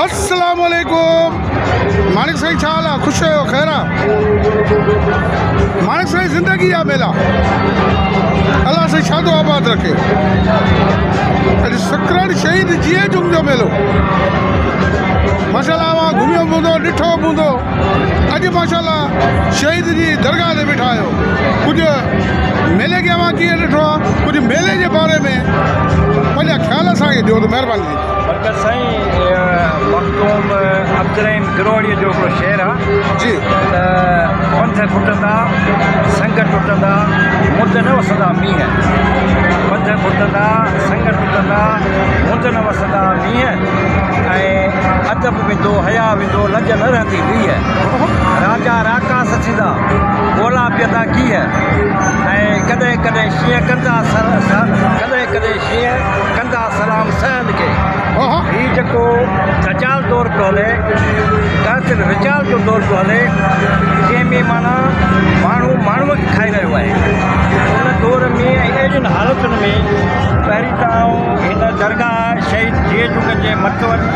السلام عليڪم ماڻڪ سائين ڇا حال آ خوش آهيو خير آ ماڻڪ سائين زندگي جا ميلا الله سائين شادو آباد رکي اڄ سکرن شهيد جيئي جم جو ميلو ماشاءالله اوهان گهميو به هوندو ڏٺو به هوندو اڄ ماشاءالله شهيد جي درگاهه تي بيٺا آهيو ڪجهه ميلي کي اوهان ڪيئن ڏٺو آهي ڪجهه ميلي جي باري ۾ پنهنجا خيال اسان کي ڏيو ته مهرباني برڪت سائين مخدوم عبدالرحيم گروهڙي جو هڪڙو شعر آ جي ته پنڌ ڦٽندا سنگ ٽٽندا مند نه وسندا مينهن پنڌ ڦٽندا سنگ ٽٽندا مند نه وسندا مينهن ۽ ادب ويندو حيا ويندو لڄ نه رهندي ويهه راجا راڪاس ٿيندا ڳولا پيئندا گيهه ۽ ڪڏهن ڪڏهن شينهن ڪندا سر سر ڪڏهن ڪڏهن شينهن ڪندا سلام سيد کي هي جيڪو دجال دور پيو هلي دراصل رجال جو دور پيو هلي جنهن ۾ معنيٰ ماڻهو ماڻهوء کي کائي رهيو آهي ان دور ۾ ۽ اهڙين حالتن ۾ پهرين ته آئون هن درگاهه شهيد جيئي جوڳن جي مٽوڙي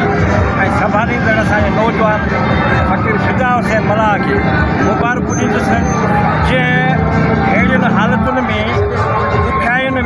۽ سنڀاليندڙ اسان جي نوجوان فقير فدا حسين ملاح کي مبارڪون ڏيندس جنهن اهڙين حالتن ۾ ڏکيائين ۾.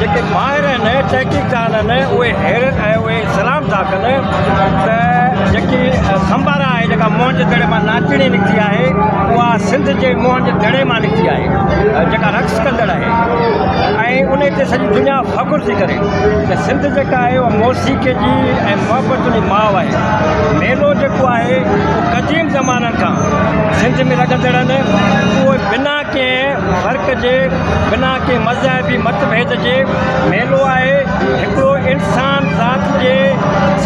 جيڪي ماهر آهن، تحقيقدان آهن، اهي حيرت ۽ اهي سلام ٿا ڪن ته جيڪي سنبارا آهي، جيڪا موهن جي دڙي مان ناچڻي نڪتي آهي، اها سنڌ جي موهن جي دڙي مان نڪتي آهي، جيڪا رقص ڪندڙ آهي ۽ انهي تي سڄي دنيا فخر ٿي ڪري ته سنڌ جيڪا آهي اها موسيقي جي ۽ محبتن جي ماء آهي. ميلو جيڪو آهي اهو قديم زمانن کان سنڌ ۾ لڳندڙ آهن، اهي بنا ڪنهن فرق جي بنا ڪنهن مذهبي مت ڀيد جي ميلو آهي هڪڙو انسان ذات جي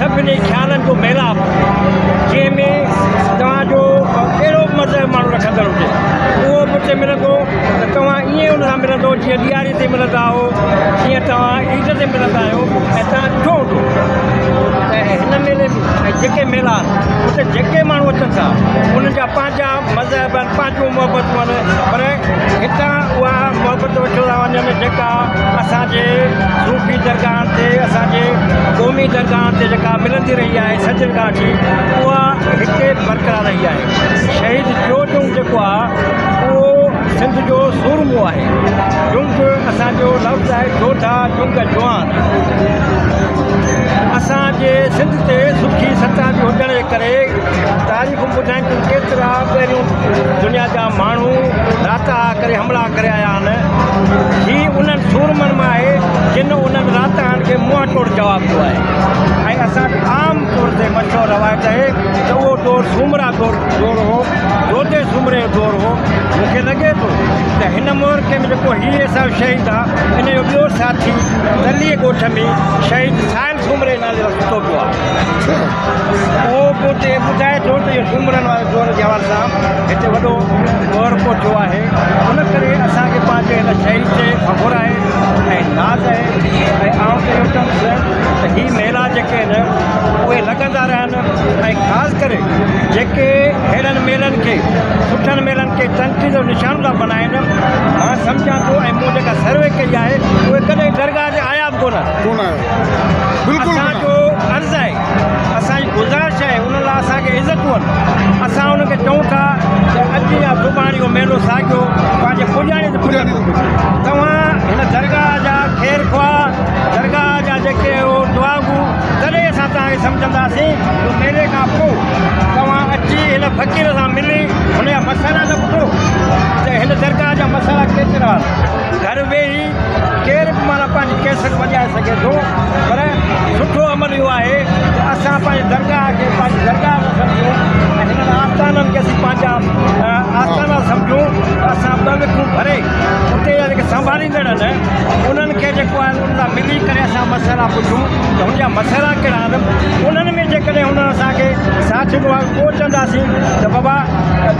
سڀني خيالن جو ميلاپ جنهن ۾ توهان جو ڪهڙو به مذهب ماڻهو رکندڙ هجي اهو به اتي ملندو ته توهان ائين ان سان ملندو جيئن ڏياري تي ملندا آهو جيئن توهان عيد تي ملندا آهيو ۽ توهان ڏٺو هوندو ته هن ميلي ۾ جيڪي ميلا آهن اتي جيڪي ماڻهو اچن ٿا انهن جا پنهنجا مذهب ۽ پنهنجون محبتون آهن پر هتان اها محبت وٺيو ٿا وڃن جيڪا اسان جي صوفي درگاهن تي اسان جي قومي درگاهن تي جيڪا ملندي رهي آهي سچل گاهه جي اها هتي برقرار رهي آهي شهيد جوء جونگ جيڪو آهي اهو سنڌ جو سورمو آهي جونگ اسان جو لفظ آهي جوڌا جونگ جوان اسان جي سنڌ تي سٺي ستا به هجڻ جي ڪري تاريخون ٻڌائين ڪيترا پهريون دنيا جا ماڻهو راتاها ڪري حملا ڪري آيا آهن. هي انهن سورمن مان آهي جن انهن راتاهن کي منهن ٽوڙ جواب ڏنو آهي ۽ اسان وٽ عام طور تي مشهور روايت آهي ته اهو دور سومرا دور دور هو، جوتي سومري جو دور هو. مون کي لڳي ٿو ته هن معرڪي ۾ جيڪو هي صاحب شهيد آ ان جو ٻيو ساٿي تليء ڳوٺ ۾ شهيد سائل سومري نالي وارو ستو پيو آ. اهو پوءتي ٻڌائي ٿو ته اهو سومرن واري دور جي حوالي سان هتي وڏو مهرڪو ٿيو آهي، ان ڪري اسان کي پنهنجي هن شهيد تي فخر آهي ۽ ناز آهي ۽ آئون ته اهو چوندس ته هي ميلا جيڪي آهن اهي لڳندا رهن ۽ خاص ڪري جيڪي ههڙن ميلن کي سٺن ميلن کي تنقيد جو نشانو ٿا بنائن مان سمجهان ٿو ۽ مون جيڪا سروي ڪئي آهي اهي ڪڏهن درگاهه تي آيا به ڪونه. اسان جو عرض آهي اسان جي گذارش آهي ان لاء اسان کي عزت ڏين اسان انهن کي چئون ٿا ته اڄ يا سڀاڻي اهو ميلو ساڳيو پنهنجي پڄاڻي تي پڄي ٿو وڃي توهان هن درگاهه جا خير خواهه درگاهه جا جيڪي اهو دعا گو تڏهن اسان توهان کي سمجهنداسين جو ميلي کان پوء توهان اچي هن فقير سان ملي هن جا مسئلا ته ٻڌو ته هن درگاهه جا مسئلا ڪيترا گهر ويهي ڪير به معنيٰ پنهنجي ڪيسٽ وڄائي سگهي ٿو پر سٺو عمل اهو آهي ته اسان پنهنجي درگاهه کي پنهنجي درگاهه نه سمجهون ۽ هنن آستانن کي اسين پنهنجا آستانا سمجهون ته اسان ٻه وکون ڀري اتي جا جيڪي سنڀاليندڙ آهن انهن کي جيڪو آهي انهن سان ملي ڪري اسان مسئلا پڇون ته هن جا مسئلا ڪهڙا آهن انهن ۾ جيڪڏهن هنن اسان کي ساٿ ڏنو آهي پوء چونداسين ته بابا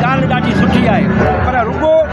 ڳالهه ڏاڍي سٺي آهي پر رڳو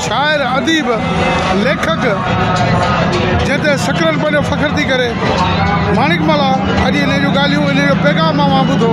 شاعر، اديب، ليکڪ جنهن تي سڪرن پنهنجو فخر ٿي ڪري. ماڻڪملا اڄ انهيء جون ڳالهيون، انهيء جو پيغام اوهان ٻڌو.